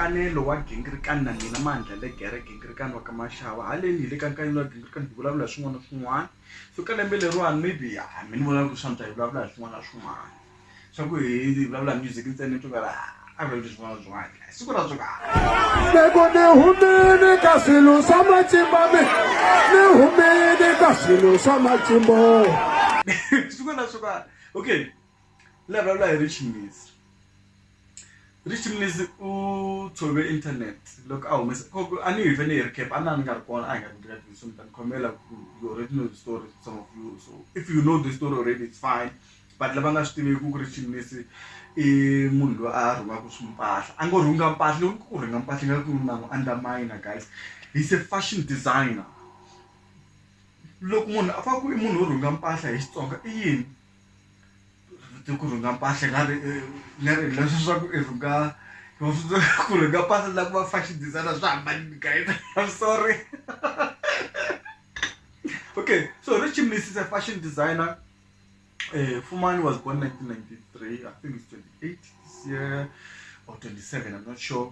nkanelo wa gingirikani na mina mandla le gere gingirikani wa ka maxava haleni hi le ka nkanelo wa gingirikani hi vulavula hi swin'wana na swin'wana so ka lembe leriwani maybe a mi ni vona ku swa nta hi vulavula hi swin'wana na swin'wana swa ku hi vulavula music ntsena ni twakala a va leswi swin'wana swin'wana siku ra swoka loko ni humile ka swilo swa matimba mi ni humile ka swilo swa matimbo siku ra swoka okay la vulavula hi ri chingisi Rishini Leslie u tshove internet loko a humesa a ni hi ve ni hi ri camp a na ni nga ri kona a hi nga ri ndzeni ka so ni ta ni khomela ku you already know the story some of you so if you know the story already it's fine but lava nga swi tiveki ku Rishini Leslie i munhu loyi a rhungaka swi mpahla a ngo rhunga mpahla loko ni ku u rhunga mpahla ni nga ku na n'wi underminer guys he's a fashion designer loko munhu a va ku i munhu wo rhunga mpahla hi Xitsonga i yini. ku rhunga mpahla nga ri nga ri leswi swa ku i rhunga va funza ku rhunga mpahla na ku va fashion designer swa hambanile kae I'm sorry okay so Richie Mnisi is a fashion designer Fumani was born nineteen ninety three I think is twenty eight this year or twenty seven I'm not sure.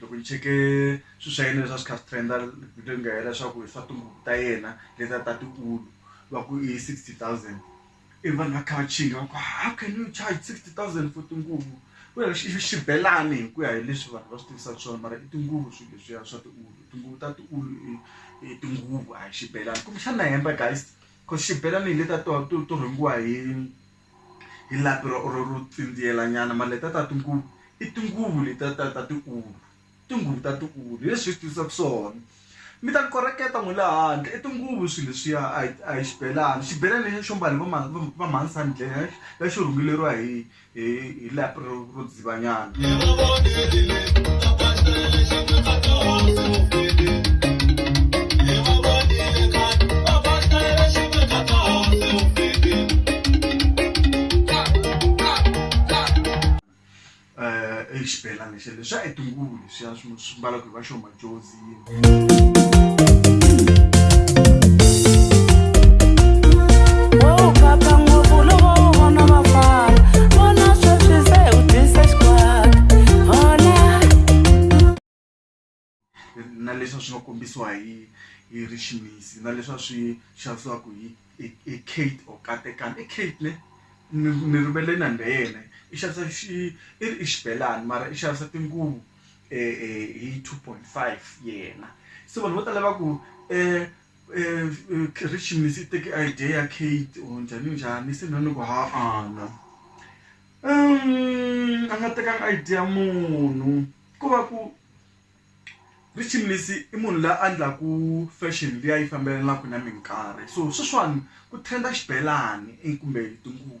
loko ni cheke swilo swa yena leswi a swi kha swi trend-a vhiki nga hela leswaku hi swa tihuku ta yena leti a ta ti ulu va ku i sixty thousand ivi vanhu va kha va chinga va ku how can you charge sixty thousand for tinguvu ku ri xi i xibelani hi ku ya hi leswi vanhu va swi tivisaka swona mara i tinguvu swilo leswiya swa tiulu tinguvu ta tiulu i i tinguvu a hi xibelani kumbexana na hemba guys cause xibelani hi letiya to to to rhangiwa hi. hi lapi ro ro ro tsindziyela nyana mara letiya ta tinguvu i tinguvu letiya ta ta tiulu tinguvu ta tiulu hi leswi hi swi tivisaka swona mi ta ni koreketa n'wina le handle i tinguvu swilo leswiya a hi a hi xibelani xibelani lexiya xo mbala hi va va va mhani Sandile lexi rhungeleriwa hi hi hi lapi ro ro. Banyana. Eh, i xibelani xa leswi a hi tinguvu leswiya swi mbalaka hi va xo madjozi. na leswi swi nga kombisiwa hi hi riximisi na leswi swi xavisiwaka hi hi kate or katekani i kate ne ni rivele na ndha yena i xavisa xi i ri i xibelani mara i xavisa tinguvu hi 2.5 yena se vanhu vo tala va ku um um christians yi teke idea ya kate or njhani njhani se mina ni ku ha-ana um a nga tekanga idea munhu ko va ku richimlis i munhu la a ndlaku fashion liya yi fambelenaka na minkarhi so sweswiwani ku trend-a xibelani kumbe tinguvu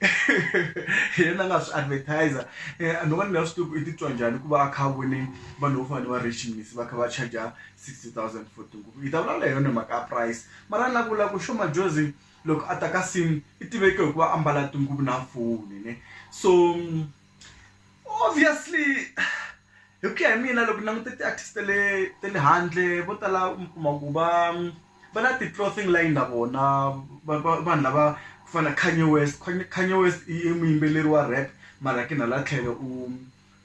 hi yena a nga swi advertiser um ni vona ni nga swi tivi ku i titwa njhani ku va a kha a vone vanhu vo fana ni va rachimisi va kha va charger sixty thousand for tinguvu hi ta vulavula hi yona hi mhaka ya price mara ni la ku vula ku xo majozi loko a ta ka sini i tiveke hikuva a mbala tinguvu na foni ne so obviously hi ku ya hi mina loko ni languta ti-artist ta le ta le handle vo tala mi kuma ku va. va na ti clothing line na vona vanhu lava ku fana na Kanye West, Kanye West i muyimbeleri wa rap mara kin hala tlhelo u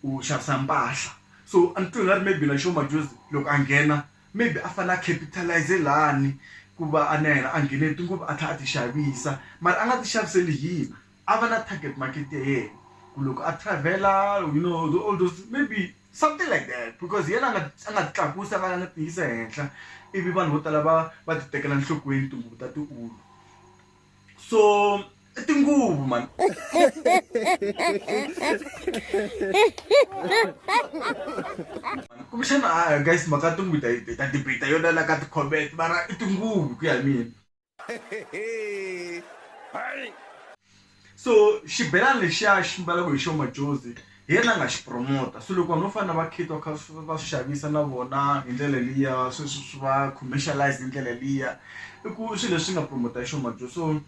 u xavisa mpahla so a ni twi nga ri maybe na Sho Madjozi loko a nghena maybe a fane a capitalize lani ku va a na yena a nghene hi tinguvu a tlha a ti xavisa mara a nga ti xaviseli hina. a va na target market ya yena ku loko a travel-a you know the all those maybe something like that because hi yena a nga a nga ti tlakusi a nga a nga ti yisa henhla ivi vanhu vo tala va va ti tekela nhlokweni tinguvu ta tiulu so i tinguvu mani kumbexana a guys mhaka tinguvu ta ta debate yona la ka ti-comment mara i tinguvu ku ya hi mina so xibelani lexiya xi mbalaka hi xo majozi hi yena a nga xi promota so loko vanhu vo fana na va kate va kha va swi xavisa na vona hi ndlela liya swi swi swi va commercialize hi ndlela liya i ku swilo leswi nga promota hi xo majozi so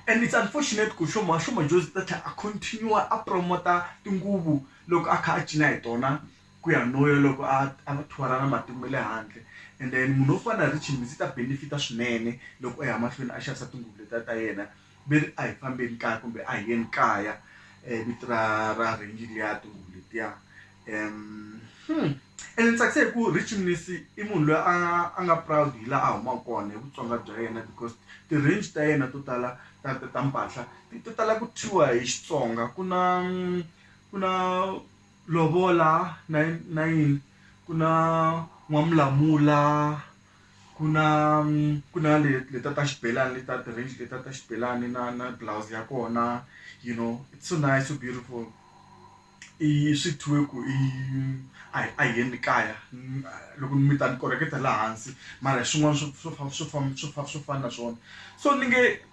and it's unfortunate ku xo ma xo majozi ta tlhela a continue a promota tinguvu loko a kha a cina hi tona ku ya no ya loko a a va tour-a na matiko ma le handle and then munhu wo fana na Richie Mbhizi ta benefit-a swinene loko a ya mahlweni a xavisa tinguvu letiya ta yena ve ri a hi fambeni kaya kumbe a hi yeni kaya um vito ra ra range liya tinguvu letiya um and ni tsakisa hi ku Richie Mnisi i munhu loyi a a nga proud hi laha a humaka kona hi vutsonga bya yena because ti-range ta yena to tala ta ta ta mpahla ti tala ku thyiwa hi Xitsonga ku na ku na Lovola na na yini ku na n'wamulamula ku na ku na le le ta ta xibelani le ta ti-range le ta ta xibelani na na blouse ya kona you know it's so nice so beautiful i swi thyiwe ku i a hi a hi yeni kaya loko mi ta ni koreketa la hansi mara hi swin'wana swo swo swo swo swo fana na swona so ni nge.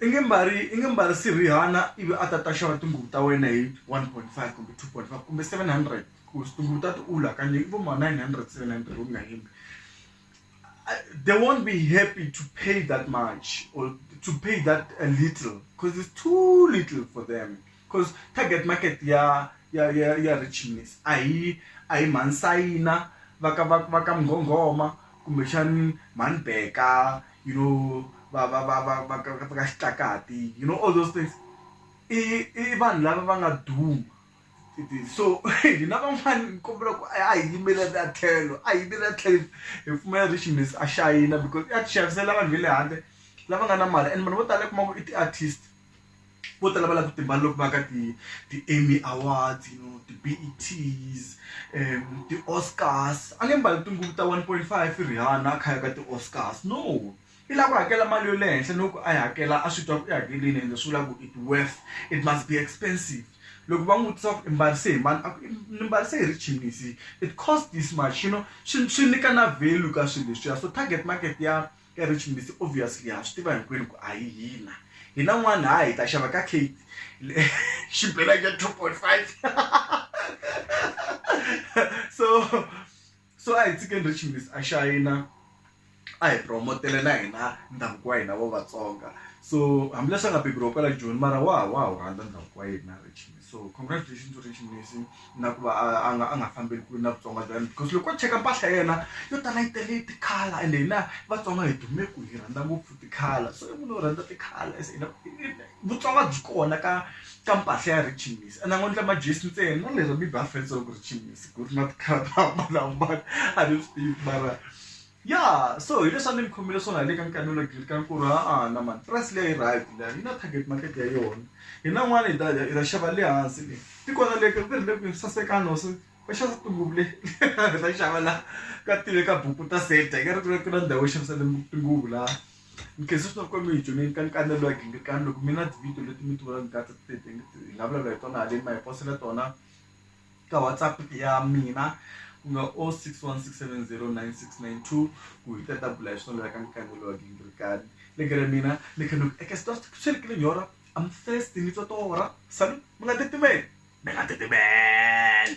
i nge mbali i nge mbarisi Rihanna ivi a ta ta xava tinguvu ta wena hi one point five kumbe two point five kumbe seven hundred ku tinguvu ta tiwulu hakanyingi i vo ma nine hundred seven hundred u nga hembi they won't be happy to pay that much or to pay that a little coz is too little for them coz target market ya ya ya ya richness a hi a hi mhani sayina va ka va va ka munghonghoma kumbexani mhani beka. you know va va va va va ka va ka xitakati you know all those things i i vanhu lava va nga duma so hina van'wani ni kombela ku a hi yimelela tlhelo a hi yimelela tlhelo hi pfumela Richmond a xayina because i ya ti xavisela vanhu va le handle lava nga na mali and vanhu vo tala u kuma ku i ti-artist. vo tala va lava ku ti mbala loko va ya ka ti ti Emmy awards you know ti B_E_T ti Oscars a nge mbali tinguvu ta one point five Rihanna a kha a ya ka ti Oscars no i lava ku hakela mali ya le henhla no ku a yi hakela a swi twa ku i hakelini ende swi vula ku it worth it must be expensive loko va n'wi vutisa ku i mbarise hi mani a ku ni mbarise hi richinisi it cost this much you know swi swi nyika na value ka swilo leswiya so target market ya. Ka Rich Mbithi obviously ha swi tiva hinkwenu ku a hi hina hina n'wana ha hi ta xava ka Kate xibelani xa 2.5 so so a hi tshikeni Rich Mbithi a xayina a hi promotele na hina ndhavuko wa hina wa Vatsonga so hambileswi a nga beburiwa kwala Joni mara wa ha wa ha wu rhandza ndhavuko wa yena Rich Mbithi. so congratulations to rich mnisi na ku va a a nga a nga fambeli kule na vutsonga bya yena because loko o cheka mpahla ya yena yo tala yi tele tikhala ende hina vatsonga hi dume ku hi rhandza ngopfu tikhala so i munhu wo rhandza tikhala as hina vutsonga byi kona ka ka mpahla ya rich mnisi ende a ngo endla majesi ntsena na lero bibi a fanisa loko rich mnisi ku ri na tikhala to hambanahambana a ni swi tivi mara ya so hi leswi a ni mi khomele swona hi le ka nkanelo grade ka nkulu a na mani price leyi yi right leyi yi na target market ya yona hi na n'wana hi ta hi ta xava le hansi leyi ti kona le ku ri le ku sasekana hosi va xavisa tinguvu le hi ta xava la ka tive ka buku ta seta hi ka ri ku ku na ndhawu yo xavisa tinguvu la ni khensa swinene ku mi hi dyondzeni ka nkanelo ya gingirikani loko mi na tivhidiyo leti mi ti vonaka ka ti hi nga vulavula hi tona haleni ma hi posela tona ka whatsapp ya mina ku nga o six one six seven zero nine six nine two ku hi ta ta bula hi swona ka nkanelo wa gingirikani le kere mina ni khe ni ku eka swi swi ri kile nyora am thirsty ni twa tora salu mi nga titimeli mi nga titimeli